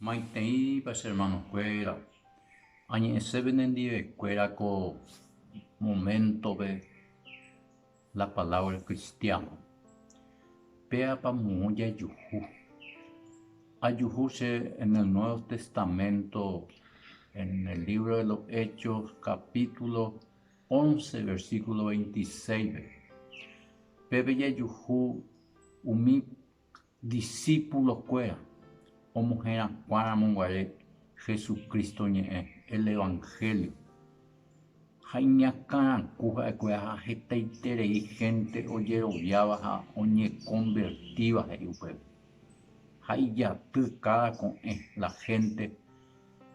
Maiteipa che hermanokuéra, añe'ẽse penendivekuéra ko moméntope la palávra kristiáno. Péapa moõ jajuhu? Ajuhu che en el Nuevo Testamento, en el libro de los Hechos, capítulo once, versículo veintiséispe. Pépe jajuhu umi Disípulokuéra omoherakuãramo guare Jesucristo ñe'ẽ, el Evangelio, ha iñakãraku ha'ekuéra ha hetaiterei hénte ojeroviáva ha oñekonvertíva he'i upépe. Ha ijaty káda ko'ẽ la hénte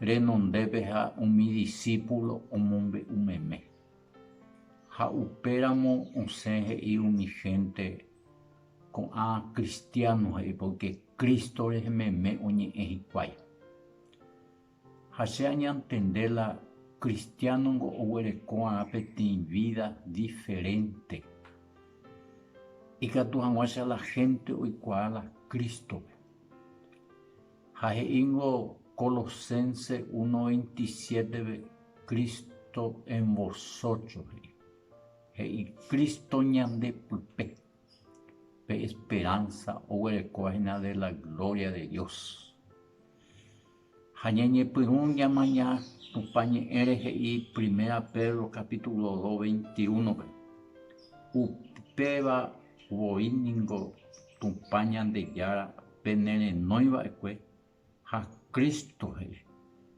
renondépe ha umi disípulo omombe'u meme. Ha upéramo osẽ he'i umi hénte Ko'ã kristiáno he'i pórke Cristo rehe meme oñe'ẽ hikuái. Ha che añantende la kristiánongo oguereko va'erã peteĩ vída diferénte. Ikatu hag̃uáicha la hénte oikuaa la Crístope. Ha he'íngo Colosenses uno veintisiétepe, Cristo en vosotros, he'i. He'i Cristo ñande pype, pe esperanza oguerekóva hína de la gloria de Dios. Ha ñañepyrũ ñamaña Tupã Ñe'ẽre he'i Primera Pedro capítulo dos veintiúnope, Upéva voi ningo Tupã Ñandejára penerenói va'ekue, Ha Cristo he'i,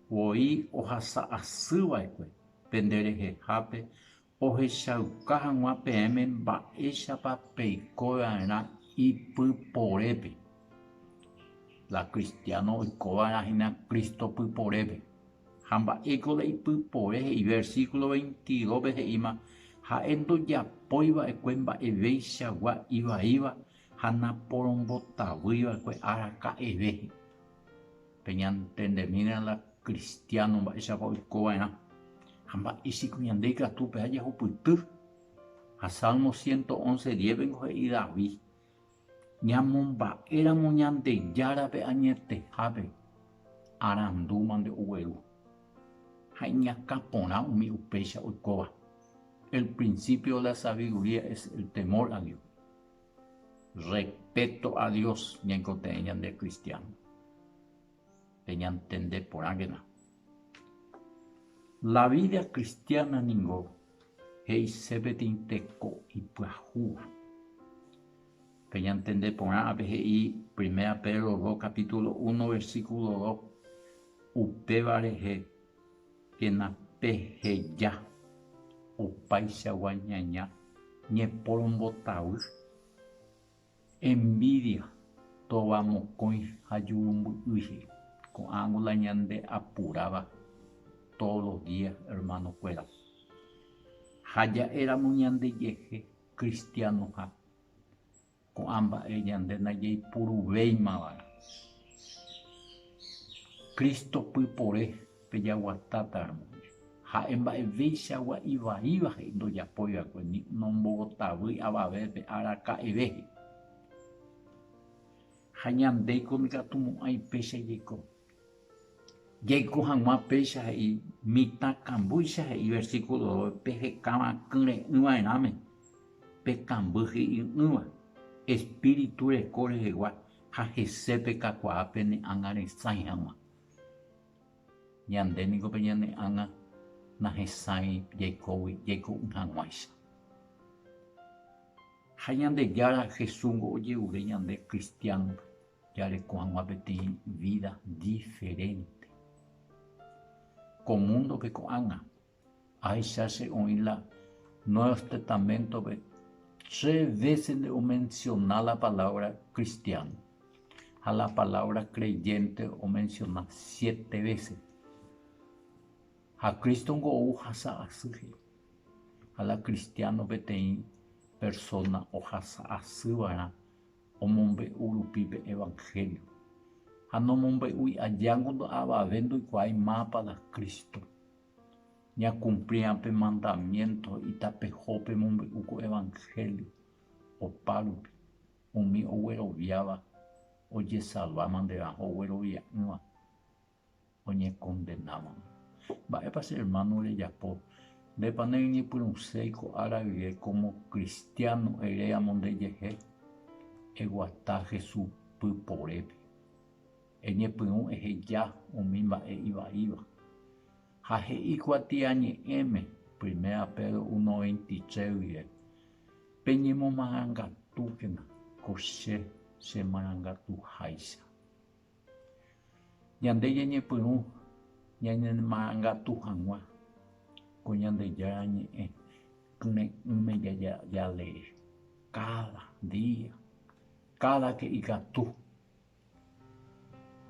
Voi ohasa asy va'ekue pende rehehápe ohechauka hag̃ua peẽme mba'éichapa peiko va'erã ipy porépe. La cristiano oiko va'erã hína Cristo py porépe. Ha mba'éiko la ipy pore he'i? Versículo veintidópe he'íma, Ha'e ndojapói va'ekue mba'evéichagua ivaíva, ha naporombotavýi va'ekue ára ka'eve, peñantendemína la kristiáno mba'éichapa oiko va'erã ha mba'e piko ñande ikatu peha jahupyty. Ha Salmo ciento once diépe niko he'i David, Ñamomba'éramo Ñandejárape añetehápe, arandúma nde ogueru. Ha iñakã porã umi upéicha oikóva. El principio de la sabiduría es el temor a Dios. Respéto a Dios ñaikotevẽ ñande kristiáno. Peñantende porãkena. La vída kristiána ningo he'ise peteĩ teko ipyahúva. Peñantende porã ápe he'i Primera Pedro 2 kapítulo uno versíkulo dos, upéva rehe Péna peheja opaichagua ñaña ñeporombotavy, envidia, tóva mokõi ha jurumby'ỹihe. Ko'ãngo la ñande apuráva todos los días hermanokuéra. Ha ja'éramo ñandejehe cristianoha. Ko'ã mba'e ñande najeipurúveimava. Cristo pypore pe jaguatáta, hermano. Ha'e mba'eveichagua ivaíva he'i ndojapóiva'ekue ni nombogotavýi avave pe araka'eve he'i. Ha ñandéiko nikatumo'ãi péicha jeko. Jaiko hag̃ua péicha he'i mitã kambýicha he'i versíkulo dove pe hekáva kyre'ỹ va'erãme pe kamby hi'y'ỹva, espíritu reko rehegua ha hese pe kakuaa pene ág̃a resãi hag̃ua. Ñande niko pe ñane ág̃a nahesãi jaikógui jaiko'ỹ hag̃uáicha. Ha Ñandejára Jesúsngo ojerure ñande kristiánope. jareko hag̃ua peteĩ vída diferénte. Ko múndope ko'ág̃a, ahecha che oĩ la Nuevos Testamentope tre vése nde omensiona la palávra kristiáno, ha la palávra kreyénte omensiona siete vése. Ha Cristo niko ohasa asy he'i. Ha la kristiáno peteĩ persóna ohasa asy va'erã omombe'u rupi pe evangelio, ha nomombe'úi aja ngondo avave ndoikuaái mápa la Cristo. Ñakumplia pe mandamiento itapeho pemombe'u ko evangelio, opárupi, umi ogueroviáva ojesalva manderã ha oguerovia'ỹva. oñekondenávagui. Mba'épa che ermáno rejapo? Ndépa nereñepyrũséi ko ára rire kómo kristiáno ere amo ndejehe? Eguata Jesús pyporépe. Eñepyrũ eheja umi mba'e ivaíva. Ha he'i kuatiañe'ẽme, Primera Pedro uno veintitrés rire, Peñemomarangatúkena ko che chemarangatuháicha. Ñande ñañepyrũ ñañemanagatu hag̃ua ko Ñandejára Ñe'ẽ Pyre'ỹme jalee káda día, káda ke'y katu.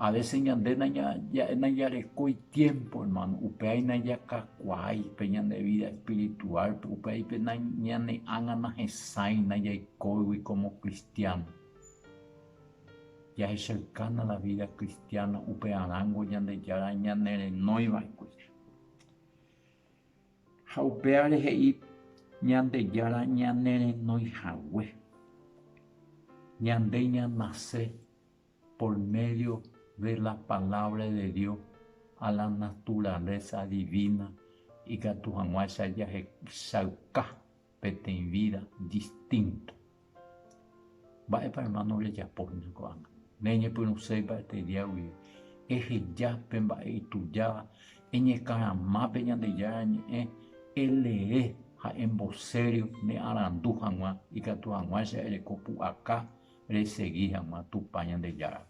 Avése ñande najarekói tiémpo, ermáno, upévare najakakuaái pe ñane vída espirituálpe, upévare ñane ág̃a nahesãi najaikóigui kómo kristiáno. Jahechaukána la vída kristiáno upearãngo Ñandejára ñanerenóiva'ekue. Ha upévare he'i Ñandejára ñanerenói hague. Ñande ñanase por médio de la Palabra de Dios a la naturaleza divina ikatu hag̃uáicha jahechauka. peteĩ vída distínto. Mba'épa, ermáno, rejapóhina ko'ág̃a? Neñepyrũséi mba'ete dia guive. Eheja pe mba'e itujáva, eñekarama pe Ñandejára Ñe'ẽ, elee ha embosério ne arandu hag̃ua ikatu hag̃uáicha ereko pu'aka resegi hag̃ua Tupã Ñandejárape.